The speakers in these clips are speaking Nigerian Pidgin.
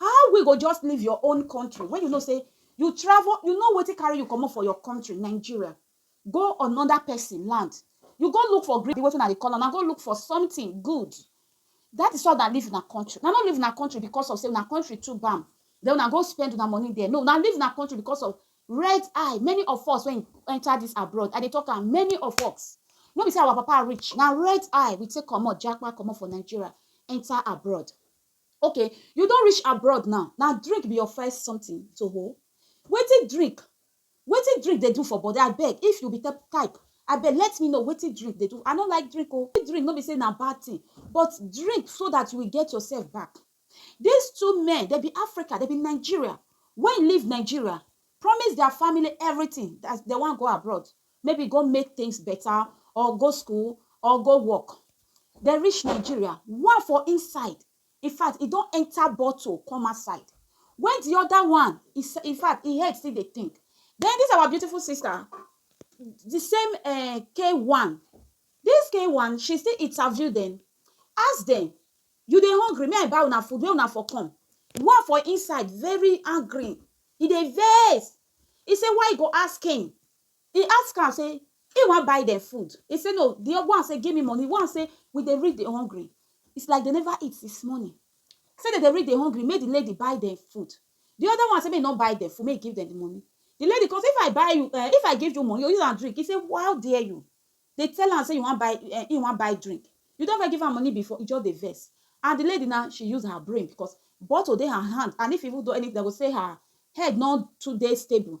How we go just leave your own country when you know say you travel, you know wetin carry you comot for your country, Nigeria, go another person land. You go look for gree, wetin una dey call am, una go look for something good. That is why una leave una country. Una no leave una country because of say una country too bam, then una go spend una money there. No, una leave una country because of red eye. Many of us when enter this abroad, I dey talk am, many of us, no be say our papa rich, na red eye we take comot, japa comot for Nigeria, enter abroad. Ok you don reach abroad now na drink be your first something to hold wetin drink wetin drink dey do for body abeg if you be type abeg let me know wetin drink dey do I no like drink oo this drink no be say na bad thing but drink so that you will get yourself back this two men dem be Africa dem be Nigeria wey leave Nigeria promise their family everything as dem wan go abroad maybe go make things beta or go school or go work dem reach nigeria one for inside infact e don enta bottle come outside wen di oda one infact e head still dey think den dis our beautiful sister di same um k one dis k one she still interview dem ask dem you dey hungry make I buy una food wey una for come one for inside very angry e dey vex e say why you go ask him He ask am say he wan buy dem food, he say no, the old one say give me money, one say we dey read dey hungry, it's like they never eat since morning, say dem dey read dey hungry make the lady buy dem food, the other one say make he no buy dem food make he give dem the money, the lady come say if I buy you um if I give you money you go use am drink, he say how dare you dey tell am say you wan buy um he wan buy drink, you don ever give am money before, he just dey vex and the lady now she use her brain because bottle dey her hand and if even though anything dem go say her head no too dey stable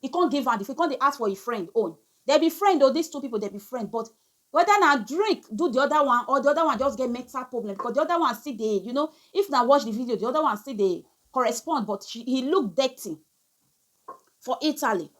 He come give am the food, he come dey ask for him friend own. Dem be friend o, these two people dem be friend but whether na drink do the other one or the other one just get mental problem because the other one still dey you know if na watch the video the other one still dey correspond but she he look dirty for Italy.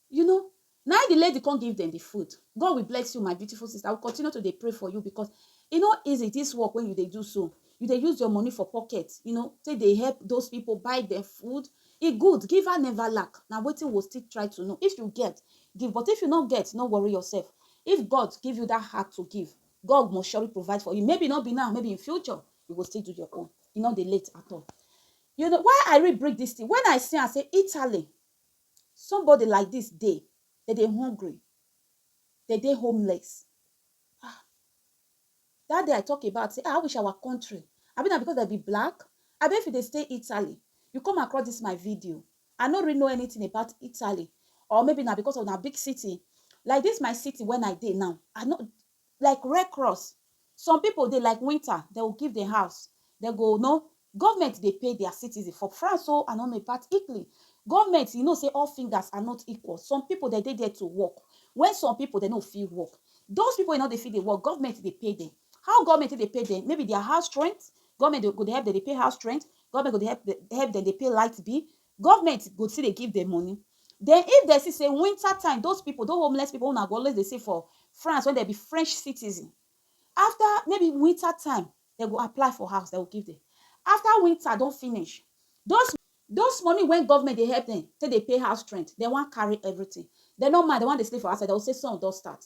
You know Na im di lady come give dem di food. God will bless you my beautiful sister, I will continue to dey pray for you because e no easy this work wey you dey do so, you dey use your money for pocket you know take dey help those people buy dem food, e good giver never lack na wetin we go still try to know, if you get give but if you no get no worry yourself, if God give you that heart to give God must surely provide for you maybe no be now maybe in future you go still do your own e no dey late at all. You know why I really bring this thing when I see am say Italy Somebody like dis dey, dem dey hungry, dem dey homeless ah dat day I talk about sey ah I wish our country abi na because dem be black abi if you dey stay Italy you come across dis my video I no really know anything about Italy or maybe na because of na big city like dis my city wen I dey now I no like red cross some people dey like winter dem go give dem house dem go no government dey pay their citizen for France o and on part Italy government you know say all fingers are not equal some people dem dey there to work when some people dem no fit work those people wey no dey fit dey work government dey pay dem how government take dey pay dem maybe their house rent government go dey help dem dey pay house rent government go dey help dem dey pay light bill Government go still dey give dem money. Den if dem see sey winter time those pipu, those homeless pipu wey una go always dey see for France wey dem be French citizen, after maybe winter time, dem go apply for house, dem go give dem. After winter don finish, those those money wey government dey help dem take dey pay house rent, dem wan carry everything. Dem no mind, dem wan dey sleep for outside, dem go say sun don start.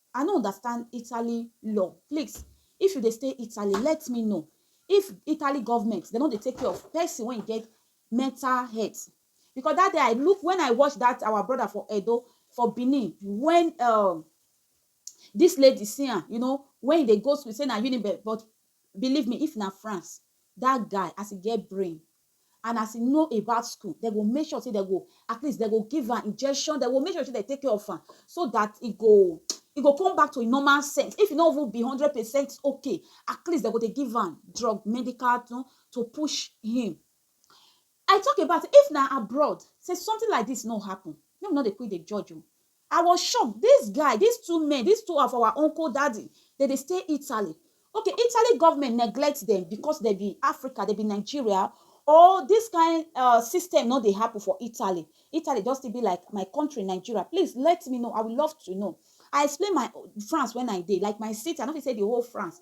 I no understand Italy law please if you dey stay Italy let me know if Italy government dem no dey take care of person wey get mental health because that day I look when I watch that our brother for Edo for Benin when um, this lady see am you know when he dey go school say na Unibe but believe me if na France that guy as he get brain and as e know about school, dem go make sure sey dem go at least dem go give am injection, dem go make sure sey dem take care of am so dat e go e go come back to im normal sense. If e no even be hundred percent okay, at least dem go dey give am drug, medical to to push him. I talk about if na abroad, sey something like dis no happen, make we no dey quick dey judge o. I was shocked, this guy, these two men, these two of our uncle daddy, dem dey stay Italy, okay, Italy government neglect dem because dem be Africa, dem be Nigeria or this kind um system no dey happen for Italy, Italy just still be like my country Nigeria, please let me know, I will love to know. I explain my France when I dey, like my city, I no fit say the whole France.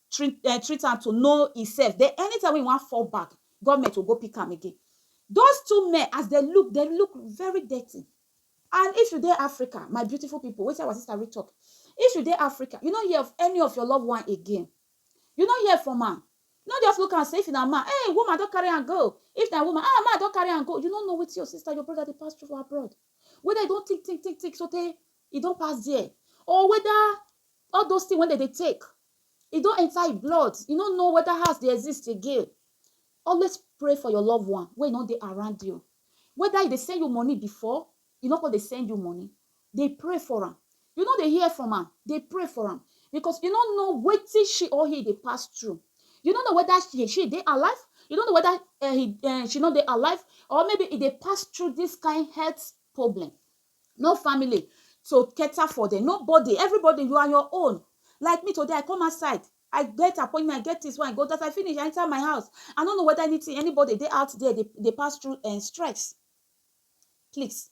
Treat um treat am to know himself then anytime wey he wan fall back government will go pick am again those two men as dem look dem look very dirty and if you dey Africa my beautiful people wetin our sister read talk if you dey Africa you no hear of any of your love one again you no hear from am no just look am say if na man hey woman don carry am go if na woman ah man don carry am go you no know wetin your sister your brother dey pass through for abroad whether e don think think think think sotey e don pass there or whether all those things wey dem dey take E don enter e blood, e no know whether house dey exist again. Always pray for your loved one wey no dey around you. Whether e dey send you money before, e no come dey send you money, dey pray for am. You no dey hear from am, dey pray for am because you no know wetin she or he dey pass through. You no know whether he she dey alive, you no know whether um he um she no dey alive or maybe e dey pass through this kain health problem. no family to cater for them nobody everybody you are your own like me today i come outside i get appointment i get this one i go that i finish i enter my house i don't know whether anything anybody they out there they, they pass through and eh, stress please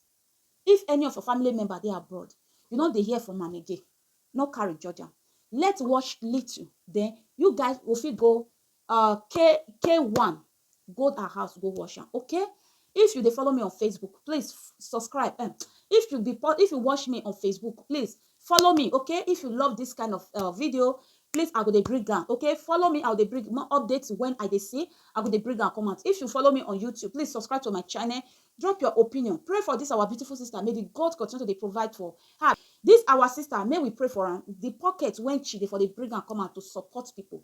if any of your family member they abroad you know they hear from am again no carry judge am let watch little then you guys will fit go uh k k1 go her house go wash am okay if you dey follow me on facebook please f- subscribe um, if you be po- if you watch me on facebook please follow me okay if you love this kind of uh, video please i go dey bring am okay follow me i go dey bring more updates when i dey see i go dey bring am come out if you follow me on youtube please subscribe to my channel drop your opinion pray for this our beautiful sister may the god continue to dey provide for her this our sister may we pray for am the pocket when she dey for dey bring am come out to support people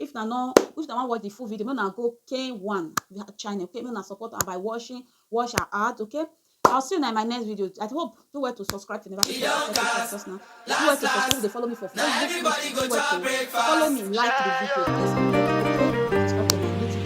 If una no if una wan watch the full video, make una go Kane One channel, okay? Make una support am by watching, watch her out, okay? I'll see you in my next video. I hope do well to subscribe to never to subscribe to Last, us now. Do well last, to subscribe. last. They follow me for Now Facebook. everybody Do go well to to our follow breakfast. me, like the video. Yes,